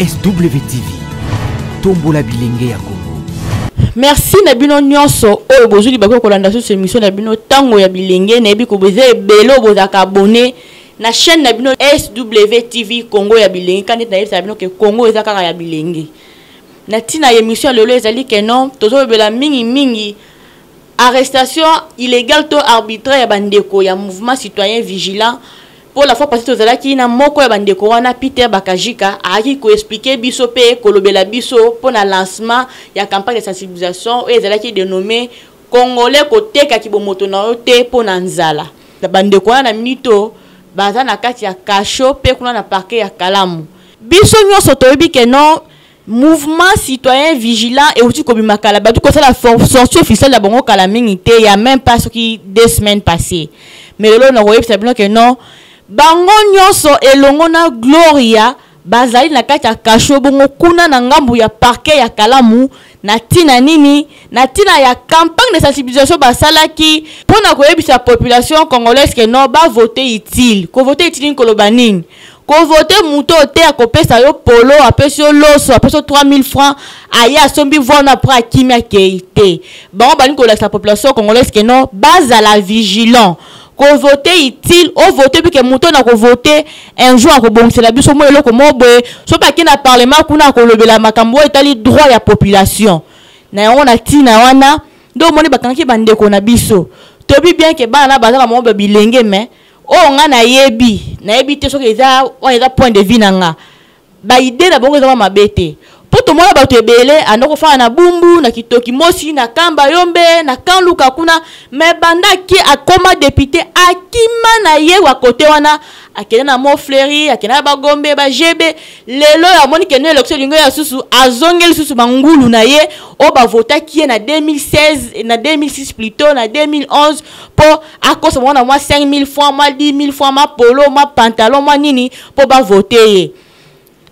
SWTV, tombola bilenge ya Congo. merci na bino nyonso oyo bozwi libaku ya kolanda susu émission na bino ntango ya bilenge nayebi ko boza ebele oyo bozalaka abonne na chaîne na bino swtv congo ya bilenge kani ete nayebisaka bino ke congo eza kaka ya bilenge na ntina ya émission ya lelo ezali ke non tozolobela mingimingi arrestation illégale to arbitraire ya bandeko ya mouvement citoyen vigilant mpo la fois passé tozalaki na moko ya bandeko wana peter bakajika ayaki koexplike biso mpe kolobela biso mpo na lancement ya campagne ya sensibilisation oyo ezalaki denome congolais koteka kibomoto na yo te mpo na nzala bandeko wana na minute oyo baza na kati ya kasho mpe kuna na parke ya kalamu biso nyonso toyebi ke non mouvement citoyen vigilant euti kobima kala batu kosala sortie officielle ya bongo kala mingi te ya même pas soki deux semaines passées mais lelo nakoyebisa bino ke non bango nyonso elongo na gloria bazali na kati ya kasho bongo kuna na ngambo ya parquet ya kalamu na ntina nini na ntina ya campagne de sensibilisation basalaki mpo na koyebisa population congolaise ke non bavote utile kovote utile nini koloba nini Ko voter moto oyo te ako pesa yo polo apesi yo loso apesi yo 3000 francs aye asombi voix no après akimi akeyi te bango balingi kolakisa population congolaise que non bazala vigilant ko voter utile o voter puis que moto oyo nako voter un jour ako bongisela biso mwa eloko moko boye soki ake na parlement kuna akolobela makambo oyo etali droit ya population na yango na tina wana nde omoni bakangaki bandeko na biso toyebi bien que bana na baza na bango ba bilenge mais oyo nga nayebi nayebi te soki eza wana eza point de vue na nga baide na bango ezama mabe te mpo tomona bato ebele anda kofanda na bumbu na kitoki mosi na kamba yombe na kanluka kuna me banda ake akoma depute akima na ye wa kote wana akenda na mont fleuri akenda na bagombe bagebe lelo oyo amoni kende election elingo ya susu azongi lisusu bangulu na ye oyo bavotaki ye na 2016 na 2006 plutot na 2011 mpo akosa bango na mwa 5000 francs mwa 10000 francs mwa polo mwa pantalon mwa nini mpo bavote ye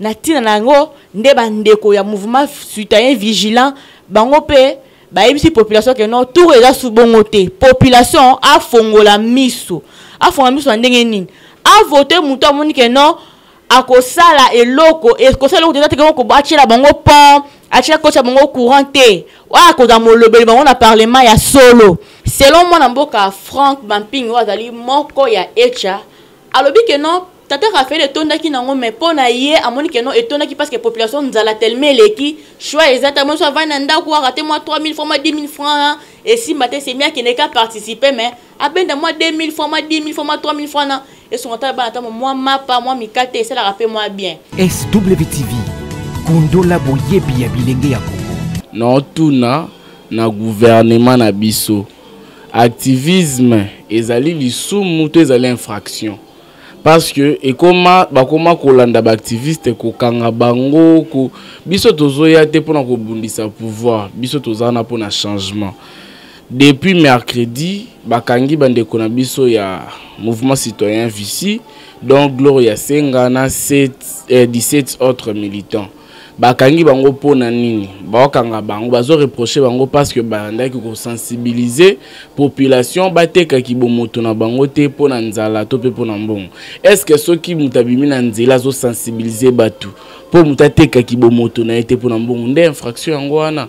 na ntina na yango nde bandeko ya mouvement citoyen vigilant bango mpe bayebisi population ke non tour eza su bongo te population afongola miso afongola miso na ndenge nini avote moto amoni ke non akosala eloko ekosala eloko te teke oko atyela bango pont atyela kotya bango courant te oyo akozala molobeli bango na parlement ya solo selon mwana mboka frank bamping oyo azali moko ya echa alobi ke non tata rafael etondaki nango mai mpo na ye amoni keno etondaki parce que population nzala telema eleki choix eza ta moso avandi na ndako arate mwa 3000 franc mwa 10000 franc esimba te semia akendeka participe mais abenda mwa 2000 fois mwa 10000 fois mwa 3000 fois na esunga ata bana ata mwa mapa mwa mikate esalaka mpe mwa bien swtv kundola boyebi ya bilenge ya kongo naotuna na guvernema na biso activisme ezali lisumu to ezali infraction parce que ekoma bakoma kolanda baactiviste kokanga bango ko... biso tozoya te mpona kobundisa pouvoir biso toza na mpona changement Depuis mercredi, bakangi bandeko na biso ya mouvement citoyen Vici, dont Gloria Senga na 7, eh, 17 autres militants. bakangi bango mpo na nini baokanga bango bazo reproche bango parce que bandaki kosensibilize population bateka kibomoto na bango te mpo na nzala to mpe mpo na mbongo est ce que soki moto abimi na nzela azosensibilize bato mpo moto ateka kibomoto na ye te mpo na mbongo nde infraction yango wana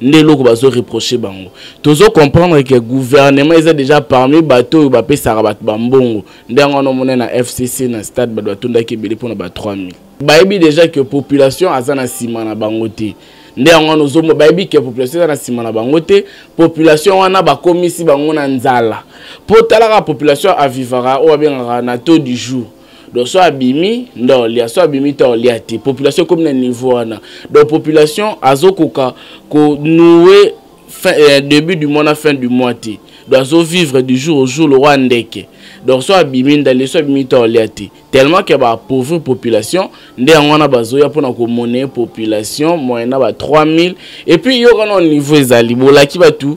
nde eloko bazo reproche bango tozo comprendre ke gouvernement eza déjà parmi bato oyo bapesaka bato bambongo nde yango wana omona na fcc na stade bato batondaki ebele mpona ba 3000 bayebi déjà ke population aza na nsima na bango te nde yango wana ozomona bayebi ke population eza na nsima na bango te population wana bakomisi bango na nzala mpo talaka population avivaka oyo babengaka na taux du jour donc so abimi nde olia so abimi te olia te population ekomi na niveau wana donc population azokoka konoue euh, début du mois na fin du mois te donc azovivre du jour au jour lokwa ndeke donc so abimi ndale so abimi te olia te tellement ke baapauvrir population nde yango wana bazoya mpona komoneye population moyen na ba 3000 epuis yokana niveau ezali bolaki bato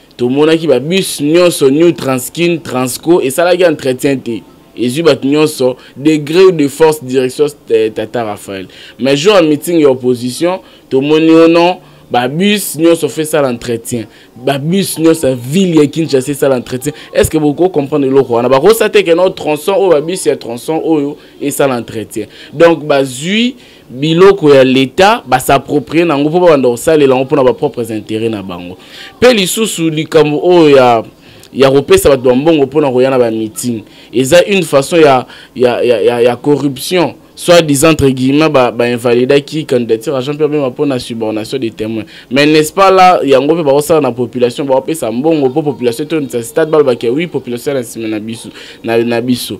tomonaki babus nyonso new transkin transco esalaki entretien te ezwi bato nyonso degré ou de force direction eh, tata raphaël mais jour ya meeting ya opposition tomoni o non babus nyonso fo esala entretien babus nyonso ya ville ya kinshasa esala entretien est ce que bokoki comprendre eloko wana bakosa te keno tronçon oyo babus ya tronçon oyo esala entretien donc bazwi biloko ya leta ba s'approprier nango mpo babanda kosalela yango mpo na ba propres intérêts na bango mpe lisusu likambo oyo ya ya kopesa bato ba mbongo mpo na koya na ba meeting eza une façon ya, ya, ya, ya, ya corruption soit disant entre guillemets ba, ba invalidaki candidature ya Jean-Pierre Bemba mpo na subordination des témoins mais n'est-ce pas là yango mpe bakosala na population bakopesa mbongo mpo population etondisa stade balobaki oui population ya na nsima na biso na, na biso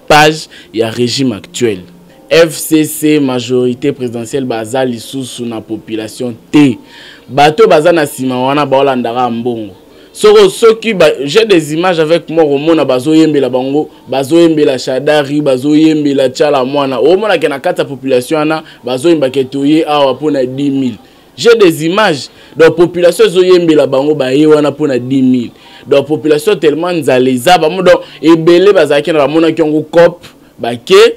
page ya régime actuel fcc majorité présidentielle baza lisusu na population te bato baza na nsima wana baolandaka mbongo soko soki j'ai des images avec moi komona bazoyembela bango bazoyembela shadari bazoyembela chala mwana omonake na kati ya population wana bazoyembake toye awa mpona 10 000 j'ai des images donc population ezoyembela bango baye wana mpo na 10 000 donc population tellement nzala eza bamo donc ebele bazalaki na bamonaki yango cop bake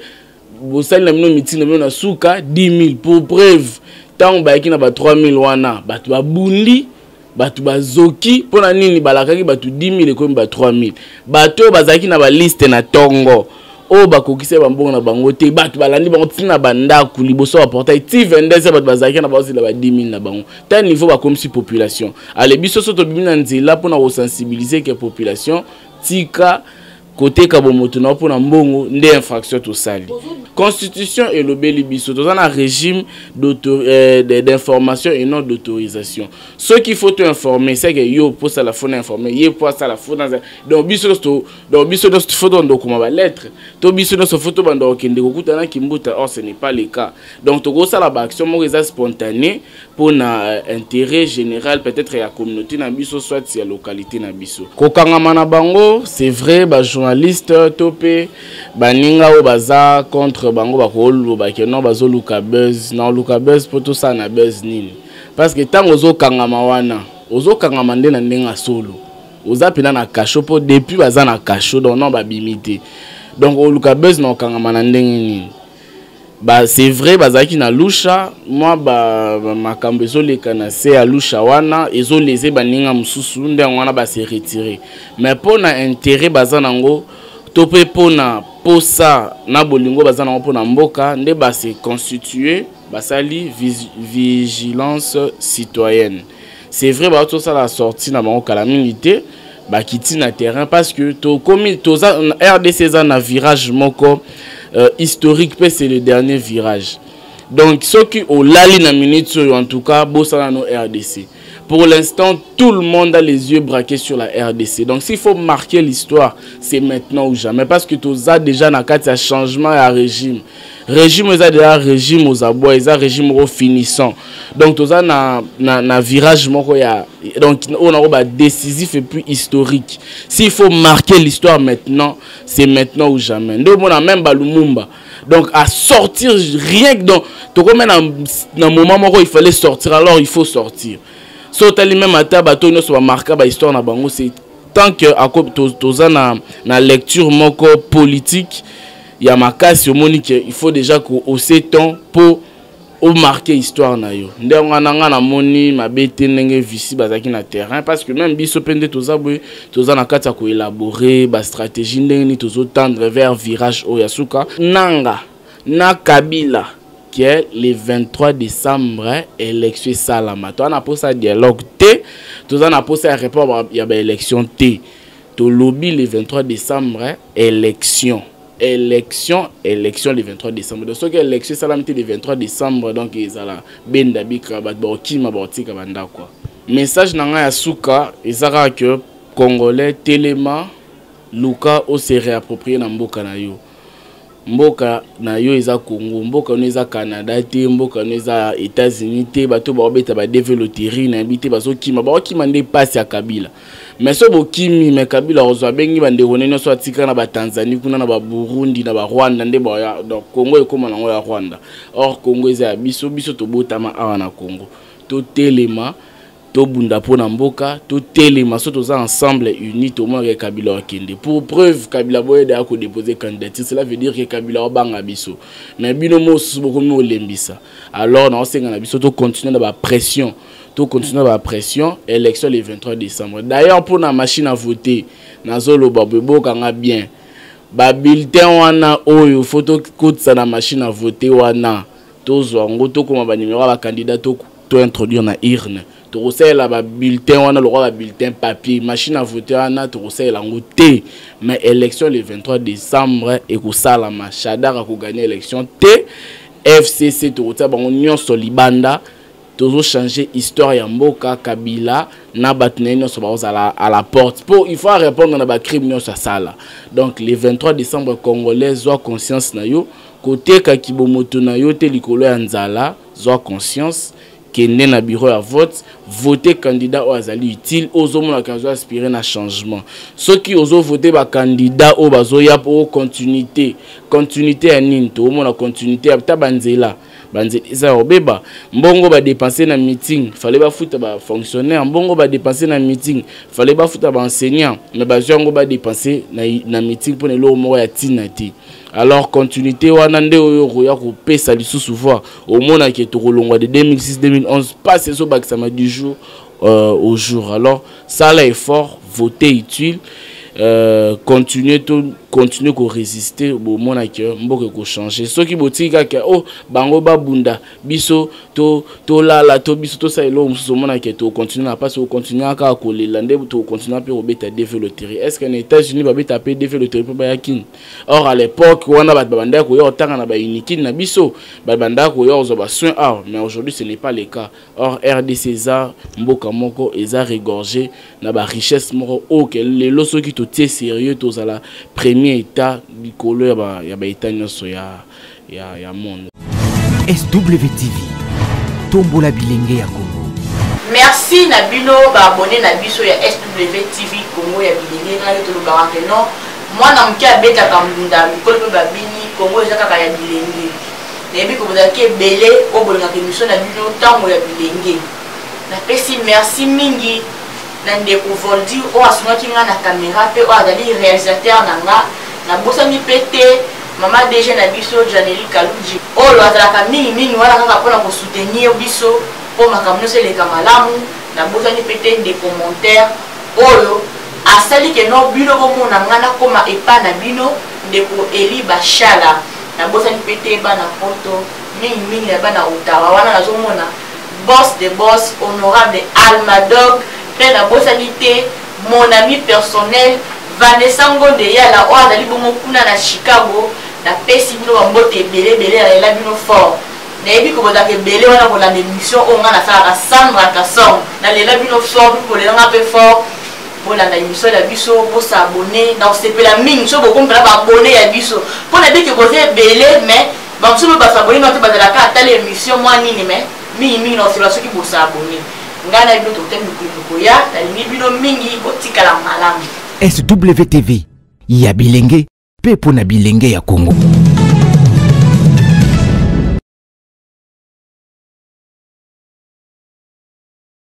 bosali na bino mitingi na bino na suka 10 000 pour preuve ntango bayaki na ba 3 000 wana bato babundi bato bazoki mpo na nini balakaki bato 10 000 ekomi ba 3 000 bato oyo bazalaki na baliste na ntongo oyo bakokisa bambongo na bango te bato balandi bango ti na bandako liboso ya portail ti 22 ya bato bazalaki na bazila ba 10 000 na bango ta niveau bakomisi population ale biso so tobimi na nzela mpo na kosensibilize ke population tika koteka bomoto na yo mpo na mbongo nde infraction tosali constitution elobeli biso toza na régime euh, d'information et non d'autorisation soki faut toinforme seke yo mpo osala fo na informe ye mpo asala fo na donc biso nyonso donc biso nyonso fo tobanda kokoma balettre to biso nyonso fo tobanda kokende kokutana kimbuta or ce n'est pas le cas donc tokosala baaction moko eza spontané mpo na euh, intérêt général peut-être ya communauté na biso soit ya localité na biso kokangama na bango c'est vrai bajournaliste to mpe baninga oyo baza contre bango bakoloba ke non bazoluka buzz na oluka buzz mpo tosala na buzz nini parce que ntango ozokangama wana ozokangama nde na ndenge ya solo oza mpena na cachot mpo depuis baza na cachot donc non babimi te donc oluka buzz na okangama na ndenge nini ba c'est vrai bazalaki na lusha mwa makambo ezoleka na se ya lusha wana ezolese baninga mosusu nde yango wana base retire mais mpo na intérêt baza nango to mpe mpo na mposa na bolingo baza nango mpo na mboka nde base constitue basali vigilance citoyenne c'est vrai baotosala sorti na bango kala mingi te bakiti na terrain parce que tokomi toza rdc eza na virage moko euh, historique mpe c'est le dernier virage donc soki olali na minute oyo en tout cas bosana no rdc pour l'instant tout le monde a les yeux braqués sur la rdc donc s'il faut marquer l'histoire c'est maintenant ou jamais parce que toza déjà na kati ya changement ya régime régime eza deja régime ozabwa eza régime moko finissant donc toza na, na, na virage moko ya donc oyo nango badécisif et puis historique s'il faut marquer l'histoire maintenant c'est maintenant ou jamais nde omona même balumumba donc à sortir rien que donc tokomi na, na moment moko il fallait sortir alors il faut sortir so otali même ata bato nyonso bamarka bahistoire na bango c'est tant que toza na, na lecture moko politique ya makasi omoni ke il faut déjà ko ose temps mpo omarke histoire na yo nde yango wana ngai namoni mabe te ndenge vici bazalaki na terrain parce que même biso mpe nde toza boye toza na kati ya koelabore bastratégie ndenge nini tozotendre vers virage oyo ya suka nanga na kabila ke le 23 décembre élection esalama toza na mposa ya dialogue te toza na mposa ya report ya baélection te tolobi le 23 décembre élection élection élection le 23 décembre donc soki élection esalami te le 23 décembre donc ezala benda bika bato bakokima bakotika bandako message na ngai ya suka eza kaka ke congolais telema luka ose réapproprier na mboka na yo mboka na yo eza congo mboka no eza canada te mboka no eza états-unis te bato baobeta badeve loterie na yebi te bazokima baokima nde mpasi ya kabila me so bokimi me kabila ozwa abengi bandeko ne nyonso atika na batanzanie kuna na baburundi na barwanda nde baya donc congo ekóma nango ya rwanda or congo eza ya biso biso tobotama awa na congo totelema tobunda mpo na mboka totelema so toza ensemble uni tomonaka kabila wakende pour preuve kabila boyede ya kodepose candidature cela veut dire ke kabila wabanga biso mais bino mosusu bokomi olembisa alors naosenga na biso tocontinue na bapression tocontinue na bapression élection le 23 décembre d'ailleurs mpo na machine à voter nazoloba boyebokanga bien babulletin wana oyo fo tokotisa na machine à voter wana tozwa yango tokoma banimero ya bakandida to introduire na urne tokosalela babulletin wana lokola babulletin papier machine à vote wana tokosalela yango te mais élection le 23 décembre ekosalama shadar akoganye élection te fcc tokotia bango nyonso libanda tozo changer histoire ya mboka kabila na bato na ye nyonso bakozala à la porte mpo il faut arépondre na bacrime nyonso asala donc le 23 décembre congolais zwa conscience na yo koteka kibomoto na yo te likolo ya nzala zwa conscience kende na bureau ya vote vote candidat oyo azali utile ozomonaka azo aspire na changement soki ozovote bacandidat oyo bazoya mpo continuité continuité ya nini toomona continuité ya ta banzela banzela eza ya kobeba mbongo badepense na meeting fale bafuta bafonctionnaire mbongo badepense na meeting fale bafuta baenseignant me bazwi yango badepense na, na meeting mpo na eloko moko ya ntina te alors continuité wana nde oyo okoya kopesa lisusu voir omonake tokolongwa de 2006 2011 mpasi ezobakisama du jour euh, au jour alors sala effort voter utile euh, continuer to continuer koresiste bomona ke mboka ekochange soki botiki kaka o bango babunda biso tolala to, to biso tosala eloko mosusu omona ke tokocontinue na mpasi okontinue kaka kolela nde tokocontinue mpe kobeta deve loterie est ce que na états-unis babeta mpe deve loterie mpo baya kini or à l'époque wana bato babandaki koya kotanga na baunikin na biso babandaki koya kozwa basoin awa mais aujourd'hui ce n'est pas le cas Or RDC eza mboka moko eza regorge na ba richesse moko ok lelo soki totie sérieux tozala premier état likolo ya ba ya ba état nyonso ya ya ya monde. SWTV tombola bilenge ya Congo. Merci na bino ba abonné na biso ya SWTV Congo ya bilenge ngai tolobaka que non mwana moke abetaka mbunda mikolo mpe babini Congo eza kaka ya bilenge. nayebi ke bozalaki ebele oyo bolingaka emission na bino ntango ya bilenge napesi merci mingi na ndeko voldi oyo asungaki ngai na kamera mpe oyo azali réalisateur na nga nabosani mpe te mama dg na biso janeli kaluji oyo azalaka mingi mingi wana kaka mpona kosoutenir biso mpo makambo nyonso eleka malamu nabosani mpe te ndeko montere oyo asali ke no bino bomona ngai nakoma epai na bino ndeko eli bashala nabosani mpe te bana poto mingi mingi ya bana otawa wana nazomona boss de boss honorable almadog mpe nabosani te mon ami personnel vanessa ngonde yala oyo azali bongo kuna na chicago napesi bino bambote ebele ebele nalela bino fort nayebi kobotaka ebele wana kolanda émission oyo ngai nasalaka sandra kasong nalela bino fort mpe kolela ngai mpe fort bolanda emission ya biso bosa abonne na osepela mingi so bokomi mpena baabonne ya biso mpo na bike boza ebele mais bamosusu mpe basa abonne nate bazalaka atala emission mwa nini mais mingi mingi na osepela soki bosa abonne ngai na bino tokutani mikolo mikoya nalingi bino mingi botikala malamu swtv ya bilenge mpe mpo na bilenge ya kongo